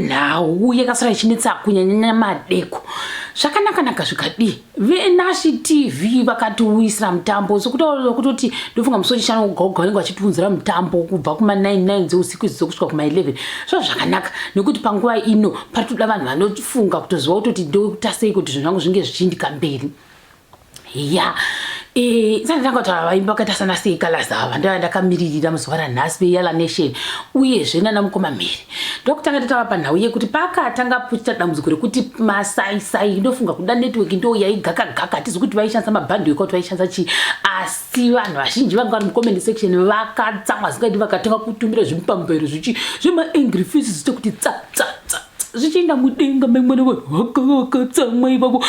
nhau yakasara ichinetsa kunyanyanya madeko zvakanakanaka zvikadii venashi tv vakatiuyisira mutambo sekutaura kutoti ndofunga musi wechishanu ugaoga vanenge vachitiunzira mutambo kubva kuma99 dzeusiku idzo dzokusvika kuma11 zva zvakanaka nekuti panguva ino pari toda vanhu vanofunga kutoziva kutoti ndokutasei kuti zvinhu zvangu zvinge zvichiindika mberi ya isati ndanga kuti ava vaimbi vakaita sana sei colors ava ndava ndakamiririra muzuva ranhasi veyala nation uyezve nana mukoma mhiri ndokutanga tatava panhau yekuti pakatanga puchita dambudziko rekuti masaisai ndofunga kuda network ndo yaigakagaka hatizi kuti vaishandisa mabhandhi weka kuti vaishandisa chii asi vanhu vazhinji vanga vari mucomment section vakatsamwa zingati vakatanga kutumira zvimupambero zvichi zvemaangry faces zviite kuti tsatsa zvichienda mudenga memwana vanhu vakavakatsamwa ivavo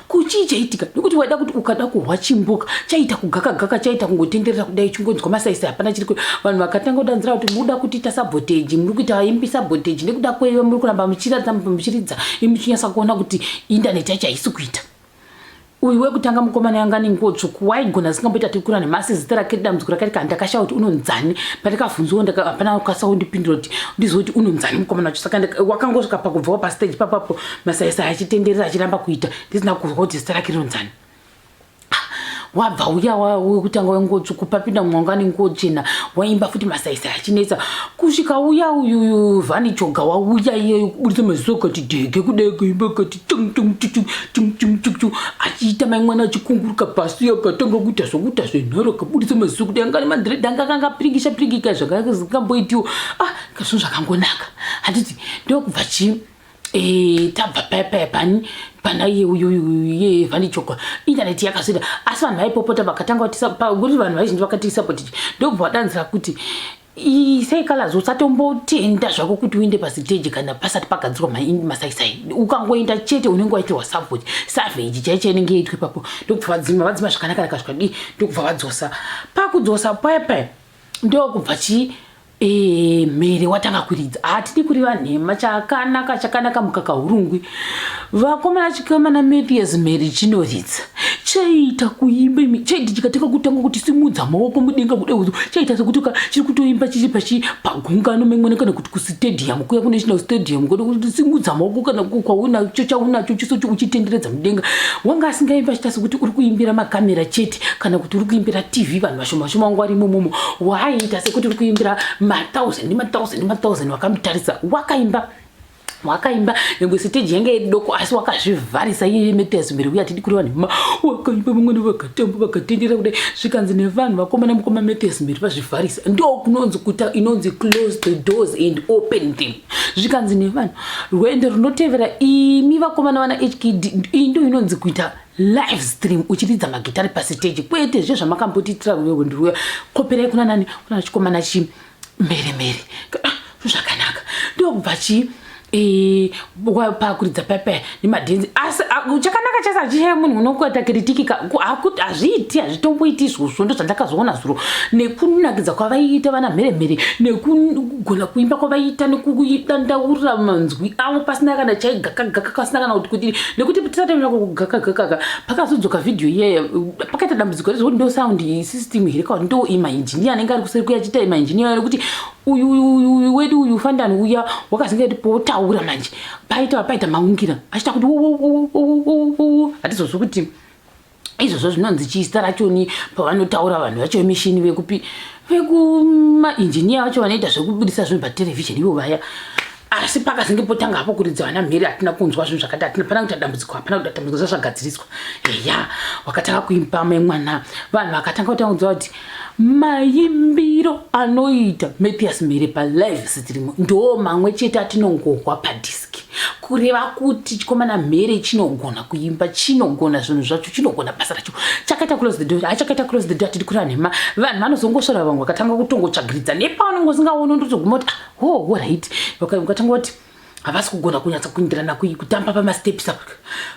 kuchii chaitika nekuti waida kuti ukada kuhwa chimbuka chaita kugakagaka chaita kungotenderera kudai chingonzwa masaisa hapana chiri vanhu vakatanga kudanzira kuti muda kutiita saboteji muri kuita imbi saboteji nekuda kweiva muri kuramba muchiratidza muchiridza imuchinyasa kuona kuti indaneti yacho haisi kuita Uyu wekutanga mukomana yanga ane nguo tsvuku waigona asingamboita tikura nemasi zita rake dambudziko rake rikati ndakashaya kuti unonzani pandikavhunziwo hapana kukasa kundipindura kuti ndizive kuti unonzani mukomana wacho saka wakangosvika pakubvawo pasteji papapo masaisai achitenderera achiramba kuita ndisina kuzwa kuti zita rake rinonzani wabva uya wekutanga wenguo tsvuku papinda mumwe wanga nenguo chena waimba futi masaisa achinetsa kusvika uya uyuyu vhani choga wauya iyeyo kuburitsa maziso kati dege kudai kuimba kati achiita mai mwana achikunguruka pasi akatanga kuita zvokuita zvenharo akaburitsa maziso kuti angani mandred anga akanga piringisha piringika zvakakamboitiwo ah kazvinhu zvakangonaka handiti ndokubva chii eh, tabva paya paya pani pana iye uyuye vanichoka intaneti yakasvira asi vanhu vaipopota vakatanga kuti vanhu vaizhinji vakatiisapotiti ndokubva vadanzira kuti Isai colors usatombotenda zvako kuti uende pasiteji kana pasati pagadzirwa masaisai ukangoenda chete unenge waitirwa savage savage chaicho inenge yaitwa ipapo ndokubva vadzima vadzima zvakanaka rakasvika dii ndokubva vadzosa pakudzosa paya paya ndokubva chii e, mhere watanga kuridza hatidi kuriva nhema chakanaka chakanaka mukaka urungwi vakomana chikamana mathias mheri chinoritsa chaiita kuimba imi chaiti chikateka kutanga kuti simudza maoko mudenga kuda uzo chaiita sekuti ka chiri kutoimba chichi pachi pagungano memwana kana kuti kustadium kuya kunational stadium kuda kuti simudza maoko kana kwaunacho chaunacho chiso uchitenderedza mudenga wanga asingaimba achiita sekuti uri kuimbira makamera chete kana kuti uri kuimbira tv vanhu vashoma shoma wangu ari imomomo waaiita sekuti uri kuimbira mathousand nemathousand nemathousand wakamutarisa wakaimba wakaimba nyangwe siteji yanga iri doko asi wakazvivharisa iye meters mberi uye atidi kuri vanhu ma wakaimba vamwene vakatamba vakatendera kudai zvikanzi nevanhu vakomana mukoma meters mberi vazvivharisa ndo kunonzi kuta inonzi close the doors and open them zvikanzi nevanhu rwendo runotevera imi vakomana vana hkd iyi ndo inonzi kuita live stream uchiridza magitari pasiteji kwete zve zvamakambotiitira rwendo rwuya koperai kuna nani kuna chikomana chii mhere mhere ah, zvakanaka ndokubva chii e, pakuridza pepe nemadhenzi asi chakanaka chese achichaya munhu unokuita kiritiki akuti hazviiti hazvitomboiti izvozvo ndo zvandakazoona zuro nekunakidza kwavaiita vana mhere mhere nekugona kuimba kwavaiita nekudandaura manzwi avo pasina kana chaigakagaka pasina kana kuti kudii nekuti tisatoenda kugakagakaka pakazodzoka vhidhiyo iyeya pakaita dambudziko rezvekuti ndo saundi isisi system here kana ndo imaengineer anenge ari kuseri kuya achiita imaengineer ari kuti uyu uyu uyu wedu uyu fandani uya wakazenge kuti potaura manje paita paita maungira achita kuti hatizozvi kuti izvozvo zvinonzi chii zita rachoni pavanotaura vanhu vacho vemishini vekupi vekumaengineer vacho vanoita zvekubudisa zvinhu paterevhizheni ivo vaya asi pakazenge potanga hapo kuridza vana mhere hatina kunzwa zvinhu zvakati hatina pana kuita dambudziko hapana kuita dambudziko zvazvagadziriswa eya wakatanga kuimba mai mwana vanhu vakatanga kutanga kunzwa kuti maimbiro anoita mathias mhere palive sitirimo ndoo mamwe chete atinongohwa padiski kureva kuti chikomana mhere chinogona kuimba chinogona zvinhu zvacho chinogona basa racho chakaita close the door achakaita close the door tiri kura nhema vanhu vanozongosvara vamwe vakatanga kutongotsvagiridza nepaunongosingaoni ndotoguma kuti ah, oh orit ukatanga kuti havasi kugona kunyatsa kuindirana kutamba pamasteps apa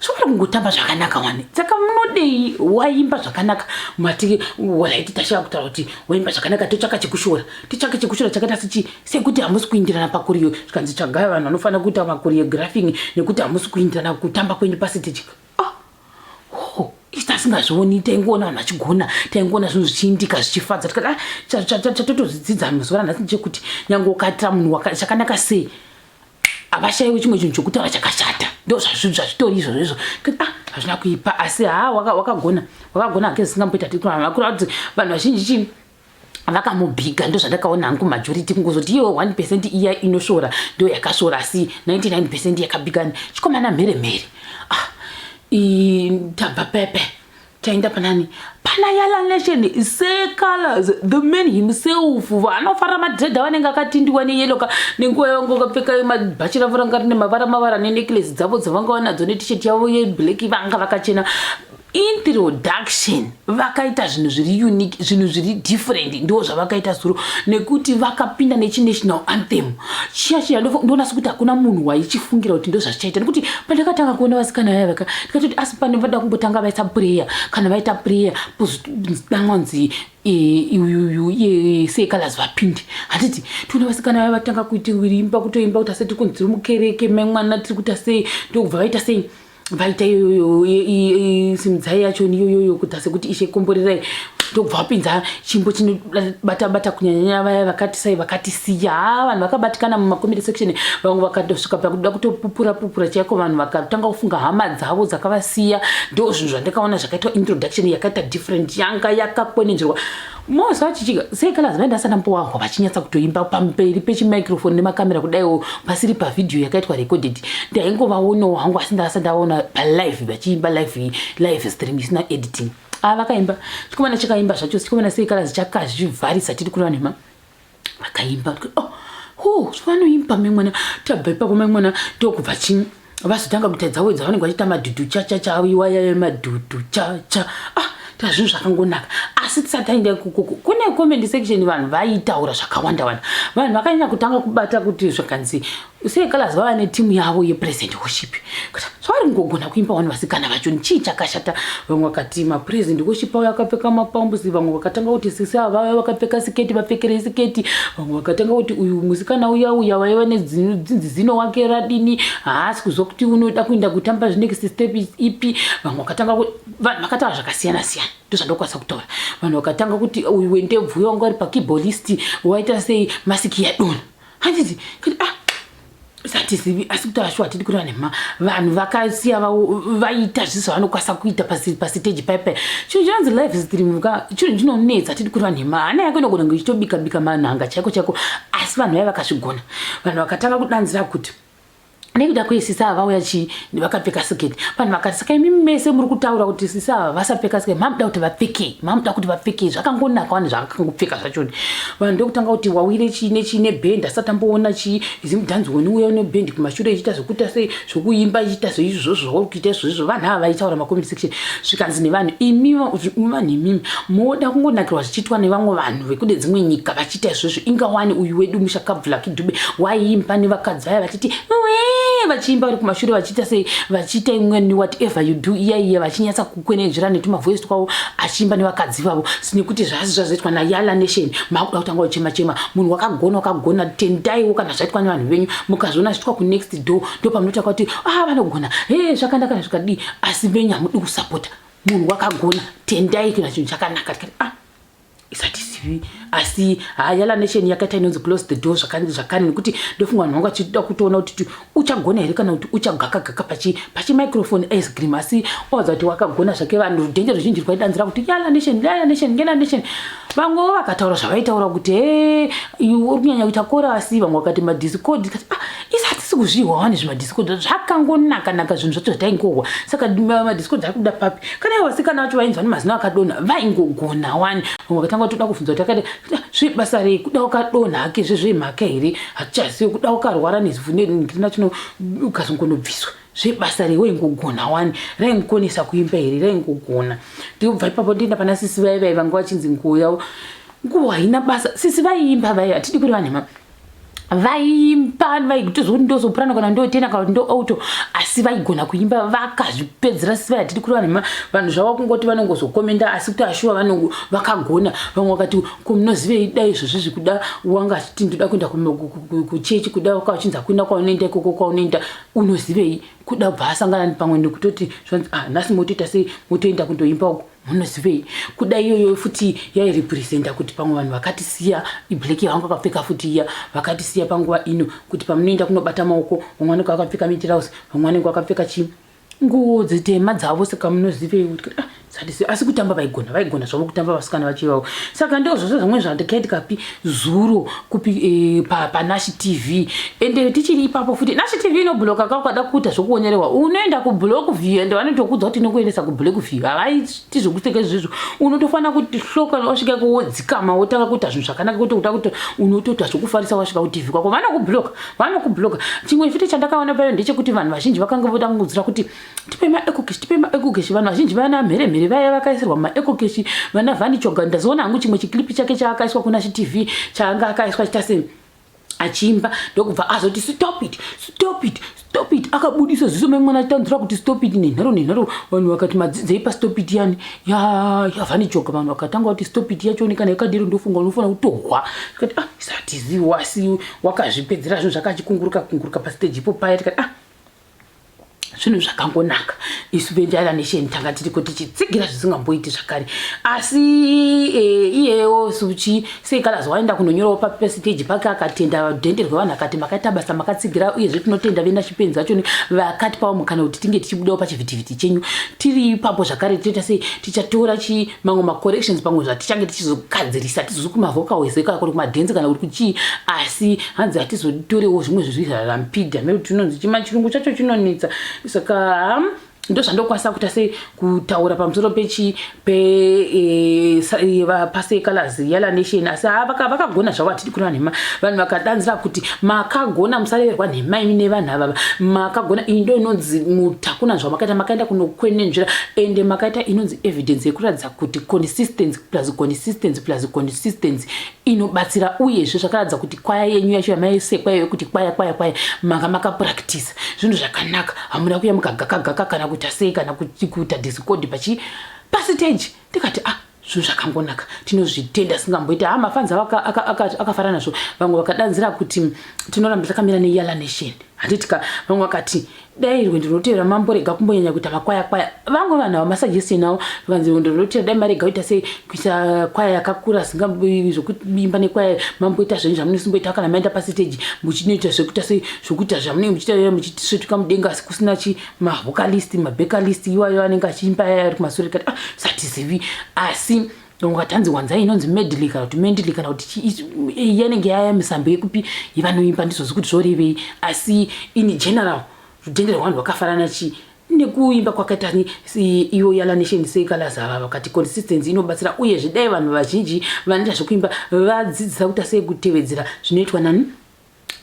zvokuda kungotamba zvakanaka wani saka munodei waimba zvakanaka mati orit tashava kutaura kuti waimba zvakanaka totsvaka chekushora totsvaka chekushora chakaita sechi sekuti hamusi kuindirana pakuriyo zvikanzi tsvagaya vanhu vanofanira kuita makuriographing nekuti hamusi kuindirana kutamba kwenyu pasitejika isi tasingazvioni taingoona vanhu vachigona taingoona zvinhu zvichiindika zvichifadza tikada chatotozvidzidza ah, mazuva ranhasi ndechekuti nyange ukaitira munhu chakanaka sei havashaiwi chimwe chinhu chokutaura chakashata ndo zvazvitori izvozvo izvo ah, hazvina kuipa asi haa wakagona wakagona hake zisingamboita tikuravakuraa kuti vanhu vazhinji chii vakamubhiga ndozvandakaona hangu majority kungozoti iyewo 1 percent iya inoshora ndo yakashora asi 99 percent yakabigani chikomana mhere mhere ah, tabva pepe taenda panani pana yalanation secolors the man himself vanofara madredha vanenge akatindiwa neyeloka nenguva yavanga vakapfeka mabhachi ravo ranga rine mavara mavara neneclase dzavo dzavanga vanadzo netishet yavo yeblack vanga vakachena introduction vakaita zvinhu zviri unique zvinhu zviri different ndiwo zvavakaita zuro nekuti vakapinda nechinational anthem chiya chiya ndonasi kuti hakuna munhu waichifungira kuti ndozvachichaita nekuti pandakatanga kuona vasikana vaya vaka ndikatoti asi pane vada kumbotanga vaita prayer kana vaita prayer pozodamwanzi uyuyu e, e, e, sekalazi vapinde handiti tiona vasikana vaya vatanga kuita imba kutoimba kuti ase tiri kunzi tiri mukereke memwana tiri kuita sei ndokubva vaita sei vaita iyoyo simudzai yacho niyoyoyo kuda sekuti ishe komborerai ndobva wapinza chimbo chinobata bata kunyanyanya vaya vakati sai vakati siya ha vanhu vakabatikana mumacommit section vamwe vakatosvika pakuda kutopupura pupura chaiko vanhu vakatanga kufunga hama dzavo dzakavasiya ndo zvinhu zvandakaona zvakaitwa introduction yakaita different yanga yakakwenenzverwa Mose vachichika sei kala zimai ndasana mpowaho vachinyatsa kutoimba pamberi pechimicrophone nemakamera kudaiwo pasiri pavhidhiyo yakaitwa recorded ndaingovaonawo hangu asi ndasa ndaona palive vachiimba live live stream isina editing ava ah, vakaimba chikomana chakaimba zvacho chikomana sei kala zichakazvivharisa tiri kureva nhema vakaimba oh, oh, vanoimba mai mwana tabva ipapo mai mwana ndokubva chii vazotanga kuita dzavo dzavanenge vachiita madhudhu chachacha iwayaya madhudhu chacha ah tazvinhu zvakangonaka asi tisati taenda ikukuku kune comment section vanhu vaitaura zvakawanda wanda vanhu vakanyanya kutanga kubata kuti zvakanzi Usei Calaz vava netimu yavo yepresent worship kuti zvavari kungogona kuimba vanhu vasikana vacho ni chii chakashata vamwe vakati mapresent worship avo akapfeka mapambusi vamwe vakatanga kuti sisi ava vave vakapfeka siketi vapfekerei siketi vamwe vakatanga kuti uyu musikana uya uya vaiva nedzinzi zino wake radini haasi kuzwa kuti unoda kuenda kutamba zvinext step ipi vamwe vakatanga kuti vanhu vakataura zvakasiyana siyana ndozvandokwanisa kutaura vanhu vakatanga kuti uyu wendebvu uya wanga ari pakeyboardist waita sei masiki yadona handizi ah, satizivi asi kuti ashu hatidi kureva nema vanhu vakasiya vaita zviso zvavanokwanisa kuita pasiteji paipai chinhu chinonzi life is dreamka chinhu chinonetsa hatidi kureva nema hana yako inogona kunge ichitobika bika manhanga chaiko chaiko asi vanhu vaiva vakazvigona vanhu vakatanga kudanzira kuti nekuda kwei sisi ava vauya chii vakapfeka siketi vanhu vakati saka imi mese muri kutaura kuti sisi ava vasapfeka siketi mamuda kuti vapfekei mamuda kuti vapfekei zvakangonaka wani zvakangopfeka zvachoni vanhu ndokutanga kuti wawire chii nechii nebhendi asati amboona chii zimudhanzi woni uya unebhendi kumashure ichiita zvekuita sei zvekuimba ichiita zveizvozvo zvauri kuita izvozvo vanhu ava vaitaura macoment section zvikanzi nevanhu imi vanhu imimi moda kungonakirwa zvichiitwa nevamwe vanhu vekude dzimwe nyika vachi Chita izvozvo inga wani uyu wedu musha kabvula kidube waiimba nevakadzi vaya vachiti wee vachiimba vari kumashure vachiita sei vachiita imweni whatever you do iya iya vachinyatsa kukwenenzvira netumavoice twavo achiimba nevakadzi vavo sinekuti zvasi zvazoitwa nayala nation makuda kutanga uchema chema munhu wakagona wakagona tendaiwo kana zvaitwa nevanhu venyu mukazviona zviitwa kunext door ndo pamunoita kwati ah vanogona he zvakanda kana zvikadii asi venyu hamudi kusapota munhu wakagona tendai kana chinhu chakanaka tikati ah isatizivi asi hayala nation yakaita inonzi close the door zvakani zvakani nekuti ndofunga vanhu vangu vachida kutoona kuti uchagona here kana kuti uchagakagaka pachi pachi microphone ice cream asi oza kuti wakagona zvake vanhu rudhende ruzhinji rwaidanzira kuti yala nation yala nation yala nation vamwe vo vakataura zvavaitaura kuti he uri kunyanya kuita kora asi vamwe vakati madiscord ah, isi hatisi kuzvihwa wani zvimadhisikoda zvakangonaka naka zvinhu zvacho zvataingohwa saka madhisikoda akuda papi kana ivo vasikana vacho vainzwa nemazino akadonha vaingogona wani vamwe vakatanga toda kuvhunza kuti akada zvebasa rei kuda ukadonha hake zvezvemhaka here hatichazivi kuda ukarwara nezivunengrina chino ukazongonobviswa zvebasa rei waingogona wani raingokonesa kuimba here raingogona ndiobva ipapo ndienda pana sisi vaye vaye vanga vachinzi nguvo yavo nguvo haina basa sisi vaiimba vaye hatidi kuri vanhema vaimba vaitozoti ndosoprano kana ndotena kana kuti ndoauto asi vaigona kuimba vakazvipedzera siva yatiri kuri vanhu vanhu zvava kungoti vanongozokomenda asi kuti ashuwa vanongo vakagona vamwe vakati komunozivei dai izvozvi zvikuda wanga achiti ndoda kuenda kuchechi kuda waka uchinzi akuenda kwaunoenda ikoko kwaunoenda unozivei kuda bva asangana pamwe nekutoti zvanzi ah nhasi motoita sei motoenda kundoimba uko munozivei kuda iyoyo futi yairepresenta kuti pamwe vanhu vakatisiya iblack yavanga vakapfeka futi iya vakatisiya panguva ino kuti pamunoenda kunobata maoko vamwe vanenge vakapfeka mitirausi vamwe vanenge vakapfeka chi nguo dzitema dzavo saka munozivei kuti ah, asi kutamba vaigona vaigona zvavo kutamba vasikana vachivavo saka ndozvose zvamwe zvandikaitikapi zuro kupi e, pa, pa nash tv ende tichiri ipapo futi nash tv inobloka ka ukada kuita zvokuonyerewa unoenda kublock view ende vanotokudza kuti inokuendesa kublock view havaiti zvokuteka izvizvo unotofanira kuti hloka wasvika kuwodzikama wotanga kuita zvinhu zvakanaka kuti uta kuti unotoita zvokufarisa wasvika kutv kwako vanokubloka vanokubloka chimwe futi chandakaona payo ndechekuti vanhu vazhinji vakanga voda kungudzira kuti tipe maecocash tipe maecocash vanhu vazhinji vana mheremhere vaya vakaisirwa maecocash vana vani choga ndazoona hangu chimwe chiclipi chake chaakaiswa kuna chitv chaanga akaiswa chita se achiimba ndokubva azoti stop it stop it stop it akabudisa ziso mai mwana achitanzura kuti stop it nenharo nenharo vanhu vakati madzidzei pastop it yani yavane ya, choga vanhu vakatanga kuti stop it yacho onekana yakadero ndofunga unofanira kutohwa tikati ah satiziwasi wakazvipedzera zvinhu zvakachikunguruka kunguruka pasteji ipo paya tikati ah zvinhu zvakangonaka isu vendaira nesheni tanga tiri kuti chitsigira zvisingamboiti zvakare asi e, iyeyo suchi sei kalazi waenda kunonyorawo papasiteji pake akatenda dhende rwevanhu akati makaita basa makatsigira uyezve tinotenda vena chipenzi vachoni vakatipawo mukana kuti tinge tichibudawo pachivhitivhiti chenyu tiri ipapo zvakare toita sei tichatora chi mamwe macorrections pamwe zvatichange tichizogadzirisa tizozi kumavocals ekaya kuri kumadhenzi kana kuri kuchii asi hanzi hatizoditorewo zvimwe zvezvi zvarampida mekuti tinonzi chima chirungu chacho chinonetsa saka ndo zvandokwanisa kuita sei kutaura pamusoro pechi pepasecalars e, e, yala nation asi ha vakagona zvavo hatidi kureva nhema vanhu vakadanzira kuti Makagona musareverwa nhema imi nevanhu avava makagona iyi ndo inonzi mutakuna zvamakaita makaenda kunokwenenzvira ende makaita inonzi evidence yekuratidza kuti consistency plus consistency plus consistency inobatsira uyezve zvakaratidza kuti kwaya yenyu yacho yamaisekwa iyo yekuti kwaya kwaya kwaya manga makapractisa zvinhu zvakanaka hamuna kuya mukagakagaka kana kuita sei kana kuita discord pachi pasiteji ndikati ah zvinhu zvakangonaka tinozvitenda singamboita ha mafans avo akafara nazvo vamwe vakadanzira kuti tinoramba takamira neyala nation handitika vamwe vakati dai rwendo runotevera mamborega kumbonyanya kuita makwaya kwaya vamwe vanhu avo masuggestion avo vanzi rwendo runotevera dai marega kuita sei kuita kwaya yakakura zvekuimba nekwaya mamboita zvenyu zvamunosimboita kana maenda pasiteji muchinoita zvekuita sei zvekuita zvamunenge muchiita muchisvetuka mudenga asi kusina chi mavocalist mabecalist iwayo anenge achiimba yaya ari kumasure kati ah, satizivi asi ungatanzi wanza inonzi medley kana kuti mendley kana kuti eh, yanenge yaya misambo yekupi ivanoimba ndizozi kuti zvorevei asi in general rudhende rwevanhu rwakafanana chii nekuimba kwakaita iyo yalanation sekalazava vakati consistency inobatsira uye zvidai vanhu vazhinji vanoita zvekuimba vadzidzisa kuita sei kutevedzera zvinoitwa nani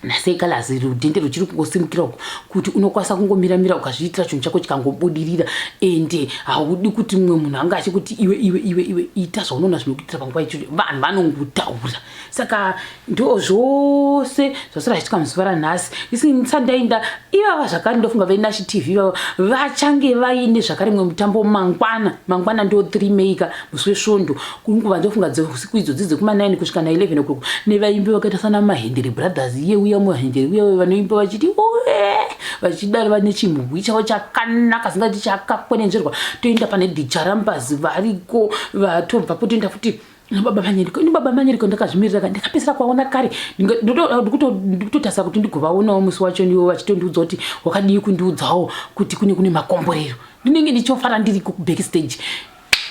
nasei kalazi rudhende ruchiri kungosimukira uku kuti unokwanisa kungomiramira ukazviitira chinhu chako chikangobudirira ende haudi kuti mumwe munhu anga achikuti iwe iwe iwe iwe ita zvaunoona zvinokuitira panguva icho vanhu vanongotaura saka ndo zvose zvasara zvichitika muzuva ranhasi isindisandainda ivava zvakare ndofunga vainashi tv ivava vachange vaine zvakare mumwe mutambo mangwana mangwana ndo three maker musi wesvondo kuri nguva ndofunga dzeusiku idzo dzidze kuma9 kusvika na 11 o'clock nevaimbi vakaita sana mahendere brothers iye uya muhendere uya uya vanoimba vachiti uwe vachidaro vane chimhubwi chavo chakanaka zingati chakakwenenzverwa toenda pane dicharambazi variko vatobva po toenda futi nababa manyeriko ini baba manyeriko ndakazvimirira ka ndakapedzera kuvaona kare ndikutotarisa kuti ndigovaonawo musi wacho ndiwo vachitondiudza kuti wakadii kundiudzawo kuti kune kune makomborero ndinenge ndichofara ndiri kuback stage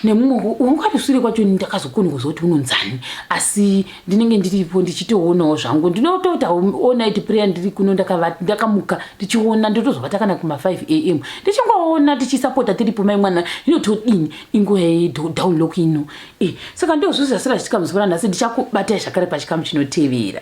nemumwe wanga ari sure kwacho ndakazokona kuziva kuti unonzani asi ndinenge ndiripo ndichitoonawo zvangu ndinotoita onit prayer ndiri kuno ndakamuka ndichiona ndotozovata kana kuma 5 am ndichingoona tichisapota tiripo mai mwana inotodini inguva yedownlock ino e saka ndozvozasira zvichikamuziva nhasi ndichakubatai zvakare pachikamu chinotevera